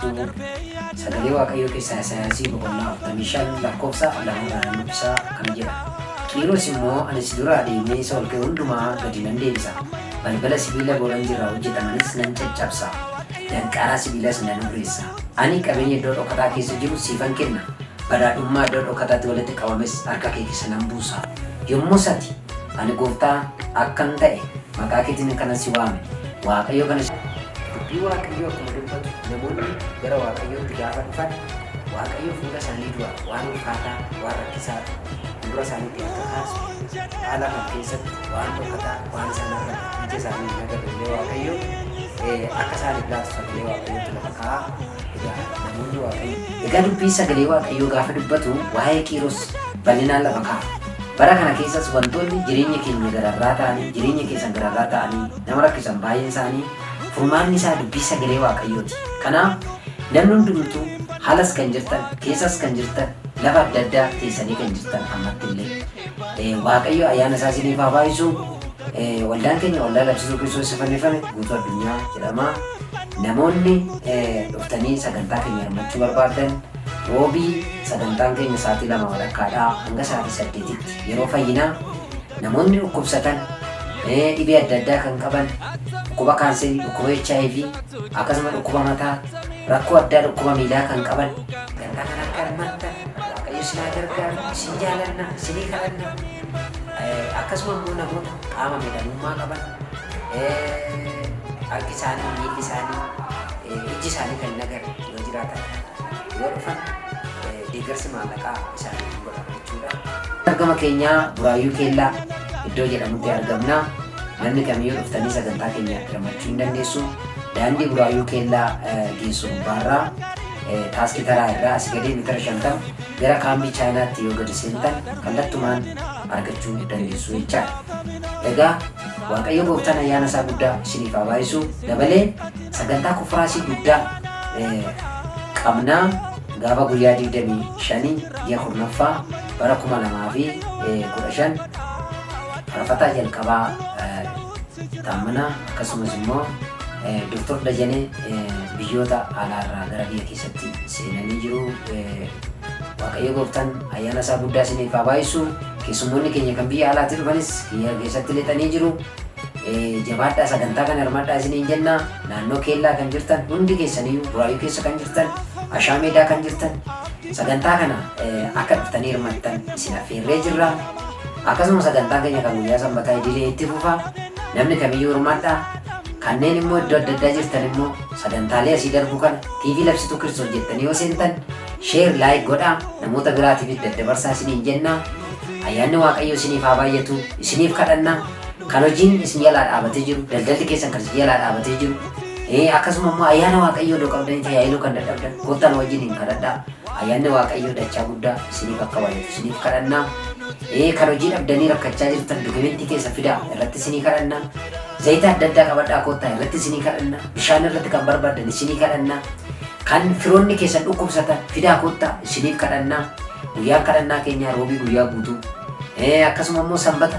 Du'uu. Sagalee Waaqayyoo keessaa Isayyaasii boqonnaa 45 lakkoofsa 2 irraa nan dubbisa akkana jedha, Qiiros immoo ani si duraa deemee isa ol ka'e hundumaa gadi nan deebisa, balbala sibiila boranjii irraa hojjetamanis nan caccabsa, danqaraa sibiilaas nan hurreessa. Ani qabeenya iddoo dhokataa keessa jiru siifan kenna, badhaadhummaa iddoo dhokataatti walitti qabames harka kee keessa nan buusa. Yommus ati. Ani gooftaa akkan ta'e maqaa keetiin kanan si waame, Waaqayyo kana. Dubbii Waaqayyoo akkuma dubbatu namoonni gara Waaqayyootti gaafa dhufan Waaqayyo fuula isaanii dura waan ulfaataa, waan rakkisaa fuuldura isaaniitti akka kaasu, kutaa lafan keessatti waan dhokataa waan isaan argan ija isaaniin hin agarre illee Waaqayyo akka isaaniif laatu sagalee Waaqayyootu lafa kaa'a. Egaa dubbii sagalee Waaqayyoo gaafa dubbatu waa'ee Qiiros bal'inaan lafa kaa'a. Bara kana keessas wantoonni jireenya keenya gararraa ta'anii, jireenya keessan gararraa ta'anii nama rakkisan baay'een isaanii furmaanni isaa dubbii sagalee Waaqayyooti. Kanaaf namni hundumtuu haalas kan jirtan, keessas kan jirtan, lafa adda addaa teessanii kan jirtan ammatti illee. Waaqayyo ayyaana isaa isiniif haa baay'isu. Waldaan keenya waldaa labsisuu Kiristoos isa fannifame guutuu addunyaa jedhama. Namoonni dhuftanii sagantaa keenya hirmachuu barbaadan roobii sagantaan keenya sa'aatii lama walakkaadhaa hanga sa'aatii saddeetitti yeroo fayyinaa namoonni dhukkubsatan dhibee adda addaa kan qaban dhukkuba kaanserii, dhukkuba HIV akkasuma dhukkuba mataa rakkoo addaa dhukkuba miilaa kan qaban kan akka Waaqayyo isin haa gargaaru, isin jaalanna, isinii kadhanna. Akkasuma immoo namoota qaama miidhamummaa qaban, harki isaanii, miilli isaanii, ijji isaanii kan hin agarre yoo jiraatan yoo dhufan deeggarsi maallaqaa isaaniif hin godhamu jechuudha. Argama keenya Buraayyuu Keellaa iddoo jedhamutti argamna. Namni kamiyyuu dhuftanii sagantaa keenya hirmaachuu hin dandeessu. Daandii Buraayyuu Keellaa geessu gubbaarraa Taaskii taraa irraa asii gadee meetira 50 gara kaambii chaayinaatti yoo gadi seentan kallattumaan argachuu dandeessu jechaadha. Egaa Waaqayyo gooftaan ayyaana isaa guddaa isiniif haa baay'isu dabalee sagantaa konfiraasii guddaa qabnaa gaafa guyyaa 25 ji'a kurnaffaa bara 2015 farfataa jalqabaa taammanaa akkasumas immoo Doktar Dajanee biyyoota alaarraa gara biyya keessatti seenanii jiru. Waaqayyo gooftaan ayyaana isaa guddaa isiniif haa baay'isu. Keessummoonni keenya kan biyya alaatti dhufanis biyya keessatti lixanii jiru. Jabaadhaa sagantaa kana hirmaadhaa isiniin jenna. Naannoo keellaa kan jirtan hundi keessaniyyuu buraayyuu keessa kan jirtan ashaa meedaa kan jirtan sagantaa kana akka dhuftanii hirmattan isin affeerree jirra. Akkasuma sagantaan keenya kan guyyaa sanbataa idilee itti fufa. Namni kamiyyuu hirmaadhaa. Kanneen immoo iddoo adda addaa jirtan immoo sagantaalee asii darbu kana TV Labsituu Kiristoos jettanii yoo seentan share like godhaa namoota biraatiifis daddabarsaa isiniin jenna. Ayyaanni Waaqayyoo isiniif haa baay'atu isiniif kadhanna. Kan hojiin isin jalaa dhaabatee jiru daldalli keessan kan isin jalaa dhaabatee jiru ee akkasuma immoo ayyaana Waaqayyoo iddoo qabdanii tajaajiluu kan dadhabdan gooftaan wajjin hin kadhadhaa. Ayyaanni Waaqayyoo dachaa guddaa isiniif akka baay'atu isiniif kadhanna. Ee kan hojii dhabdanii rakkachaa jirtan dokumentii keessa fidaa irratti isinii kadhanna. Zayita adda addaa qabadhaa koottaa irratti isinii kadhanna. Bishaan irratti kan barbaadan isinii kadhanna. Kan firoonni keessan dhukkubsatan fidaa koottaa isiniif kadhanna. Guyyaan kadhannaa keenyaa roobii guyyaa guutuu. Ee akkasuma immoo sanbata